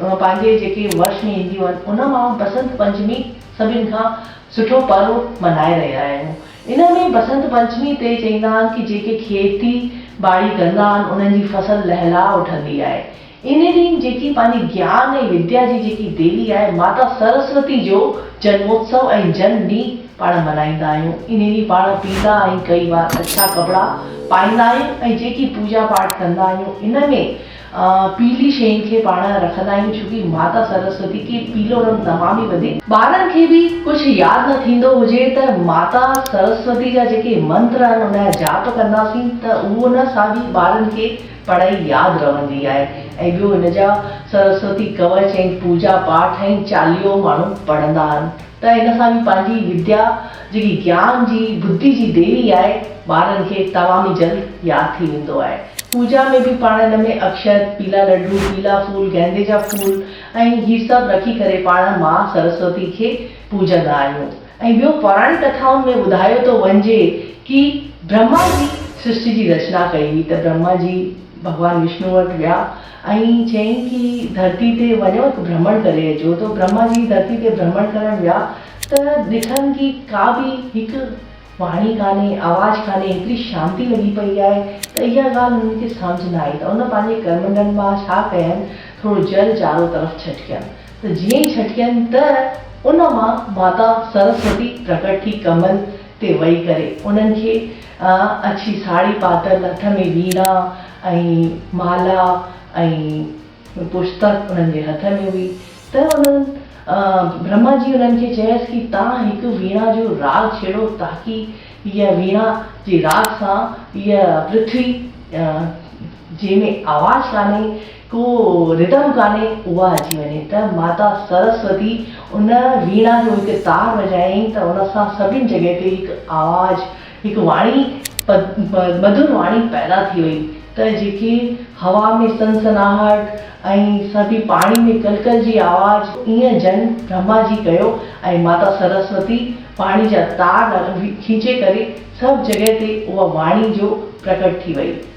پنهنجي جيڪي ورش ۾ اينديون آهن ان مان بسنت پنچمي سڀن کان سٺو پرو ملهائي رهيا آهيون ان ۾ بسنت پنچمي تي چئيندا آهن ڪي جيڪي کيتي ٻاڙي ڪندا آهن انهن جي فصل لهلاء اٺندي آهي ان ڏينهن جيڪي پنهنجي گيان ۽ وديا جي جيڪي ديوي آهي ماتا سرسوتي جو جنموتسو ۽ جن ڏينهن پاڻ ملهائيندا آهيون ان ڏينهن پاڻ پيلا ۽ ڪئي وار اڇا ڪپڙا پائيندا آهيون ۽ جيڪي پوڄا پاٺ ڪندا آهيون ان ۾ پيلي شين کي پاڻ رکندا آهيون ڇو ڪي ماتا سرسوتي کي پيلو رنگ تمام ئي وڌيڪ. ٻارن کي به ڪجھ ياد نه ٿيندو هجي ته ماتا سرسوتي جا جيڪي منتر آهن ان جا جاپ ڪنداسين ته اهو نه ساڳي ٻارن کي پڙهائي ياد رهندي آهي ۽ ٻيو ان جا سرسوتي ڪوچ ۽ پوجا پاٺ ۽ چاليهو ماڻهو پڙهندا آهن. ته ان سان به پنهنجي وديا جيڪي گيان جي بدي جي ديوي آهي ٻارن کي تمام ئي جلد ياد ٿي ويندو آهي. پوڄا ۾ به پاڻ ان ۾ اڪشت، پيلا لڊو، پيلا ڦول، گيندي جا ڦول ۽ هي سڀ رکي ڪري پاڻ ماء سرسوتي کي پوڄندا آهيون ۽ ٻيو پراڻي ڪٿائن ۾ ٻڌايو ٿو وڃجي ڪي برهما جي سرشٽي جي رچنا ڪئي هئي ته برهما جي ڀڳوان وشنو وٽ ويا ۽ چيائين ڪي ڌرتي تي وڃو ته ڀرمڻ ڪري اچو ته برهما جي ڌرتي تي ڀرمڻ ڪرڻ ويا ته ڏٺن ڪي ڪا به هڪ واڻي ڪانهي آواز ڪانهي هيتري شانتي لڳي پئي آهي ته اها ڳالهه هنن کي سمجهه نه آئي ته هن پنهنجي ڪرمنڊن مان ڇا ڪين ٿورو جل چارو طرف ڇٽڪين ته جيئن ئي ڇٽڪين ته ان مان ماتا سرسوتي پرگٽ ٿي ڪمل تي وئي ڪري انهن کي اڇي ساڙهي پاتل، هٿ ۾ ويڻا ۽ مالا ۽ پشتڪ انهن جي هٿ ۾ هئي ته انهن برهما جي انهن کي چيس ڪي تان هڪ ويڻا جو راڳ ڇيڙو تاڪي هيء ويڻا جي راڳ سان هيء پرٿوي جنهن ۾ آواز ڪانهي ڪو ردم ڪانهي اها اچي وڃي ته ماتا سرسوتي ان ويڻا جو هڪ تار وڄايائين ته ان سان سڀني جڳهه تي هڪ آواز هڪ واڻي مڌر واڻي پيدا ٿي وئي ته جيڪي هوا ۾ سنسناهٽ ۽ سڀي پاڻي ۾ ڪل ڪل جي آواز ايئن جن برهما جي ڪيو ۽ ماتا سرسوتي پاڻي جا تار کينچي ڪري سڀ جڳهه تي اها واڻي جو پرگٽ ٿي وئي.